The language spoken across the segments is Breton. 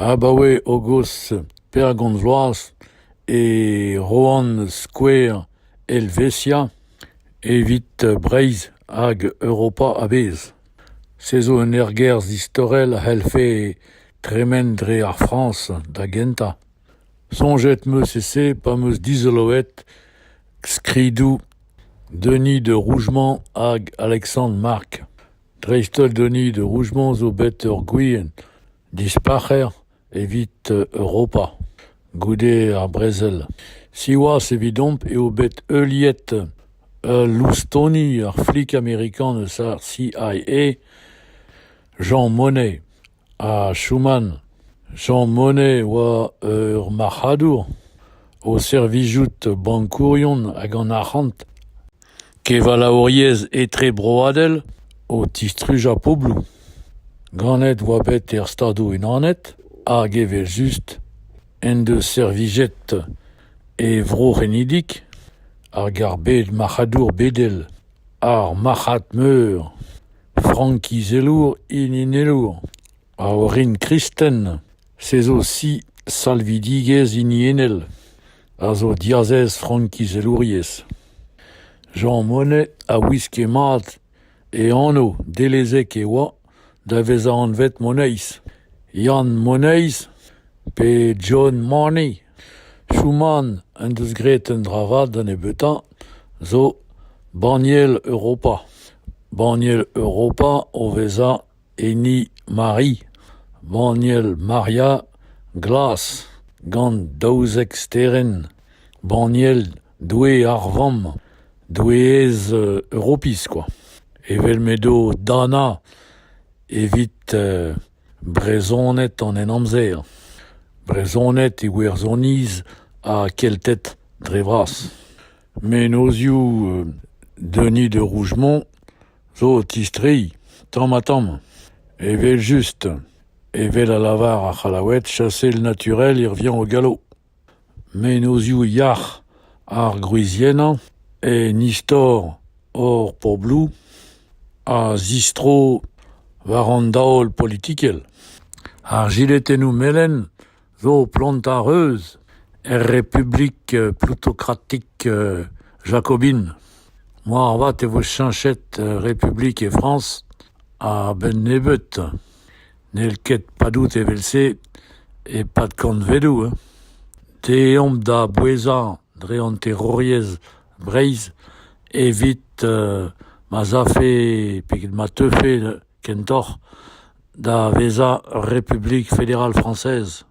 Abaoe hogos pergont vloaz e roan skouer Helvetia evit Breizh hag Europa a-bezh. Se zo un ergerzh istorel a c'hellfe tremen dre ar Frañs da gentañ. Soñjet 'm eus e-se pa 'm eus dizoloet skridoù Denis de Rougemont hag Alexandre Marc. Dreist-holl donit Rougemont zo bet ur gwir dispac'her evit Europa, goude ar brezel. Siwazh evidomp eo bet heuliet ul loustoni ar flik amerikan eus ar CIA, Jean Monnet. Ah choumant, Jean Monnet oa ur marc'hadour, o servijout bankourion hag an arc'hant, kevalaouriezh etrebroadel o tistrujañ pobloù. Ganet oa bet er Stadoù-Unanet hag evel-just en deus servijet e vro c'henidik hag ar bed marc'hadour bedel, ar marc'had meur. Frankizelour, hiniennour, a orin kristen, se zo si salvidigezh hiniennel, a zo diazez frankizelouriezh. Jean Monnet a wiske mat e anv, dellezek e oa da vezañ anvet Moneiz, Yann Moneiz pe John Money. Schumann en deus graet un dra vat da nebeutañ zo banniel Europa, banniel Europa o vezañ hini Mari, banniel Maria glas gant daouzek sterenn, banniel Doue ar Vamm, doueez Europiz kwa, evel m'edo Dana evit Brezhoned an Henamzer, Brezhoned Iwerzhoniz ha Kelted dre vras. Mennozhioù Denis de Rougemont zo o tistreiñ tamm-ha-tamm, evel-just, evel a lavar ar C'hallaoued, chassez le naturel irviañ o gallo. Mennozhioù yac'h ar gwriziennañ en istor hor pobloù a zistro war an daol politikel. Ar jiletennoù melen zo plant ar reuz er Republik plutokratik jakobin. Moarvat e vo cheñchet Republik e Frañs a-benn nebeut. N'hell ket padout evel-se e-pad kantvedoù hein. Dezhoñ da bouezañ dre an terouriezh Breizh evit ma'z afe pe ma teufe kentoc'h da vezañ Republik Federal Frañsez,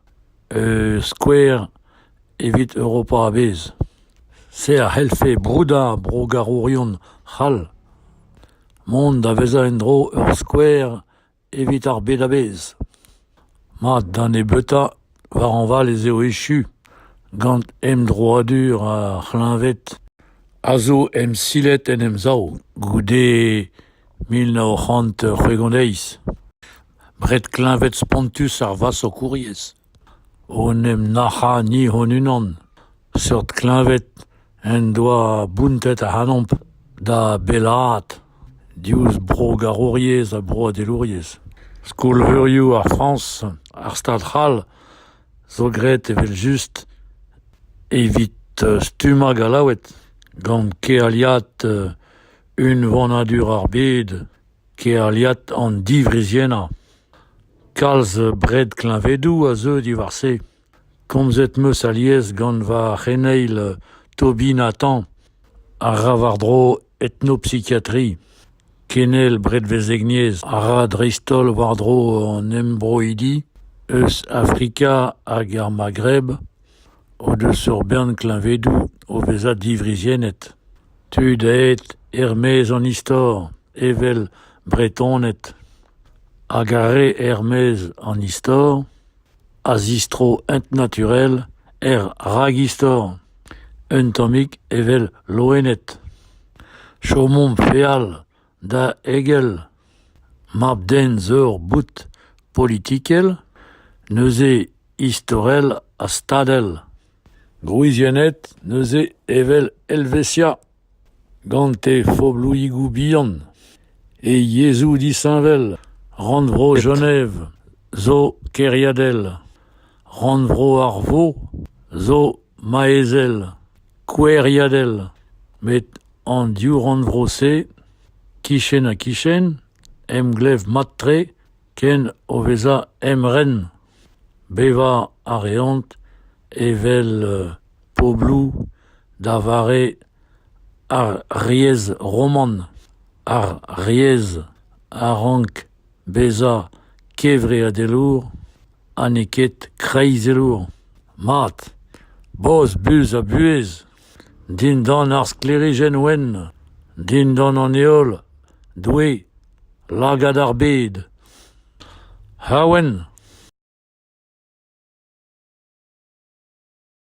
skouer evit Europa a-bezh. Se a c'hellfe broudañ brogarourion c'hall. Mont da vezañ en-dro ur skouer Evit ar bed a-bezh. Mat, da nebeutañ, war hañval ez eo echu gant emdroadur ar c'hleñved a zo emsilet en Emsav goude mil nav c'hant c'hwec'h-und-eizh. Bred kleñved spontus ar vasokouriezh. En em nac'hañ ni hon-unan. Seurt kleñved en doa bountet ac'hanomp da bellaat diouzh brogarouriezh ha broadelouriezh. Skol-veurioù ar Frañs, ar Stad c'hall zo graet evel-just evit stummañ Gallaoued gant kealiad unvanadur ar bed. Kealiad an diwriziennañ. Kalz bred-kleñvedoù a zeu diwar-se. Komzet 'm eus alies gant va c'heneil Toby Nathan, a ra war-dro etnopsikiatri. Kenel bredvezhegniezh a ra dreist-holl war-dro an embroidi eus Afrika hag ar Maghreb. o deus ur bern kleñvedoù o vezañ diwriziennet, tud aet er-maez an istor, evel Bretoned hag ar re er-maez an istor, a zistro ent-naturel er ragistor, un tammig evel loened. Chomomp feal Da egel mab-den zo ur boud politikel, neuze istorel ha stadel. Gwriziennet neuze evel Helvetia, gant he fobloùigoù bihan, he yezhoù disheñvel. Rannvro Genève zo kêriadel. Rannvro ar vro zo maezel, koueriadel, met An div rannvro-se, kichen-ha-kichen, emglev mat-tre ken o vezañ emren. Bevañ a reont evel pobloù da vare ar riez roman. Ar riez a rank bezañ kevreadelour ha n'eo ket kreizelour. Mat, boz, buz ha buhez. dindan ar sklêrijenn wenn, dindan an heol, Doue, lagad ar bed. Ha wenn !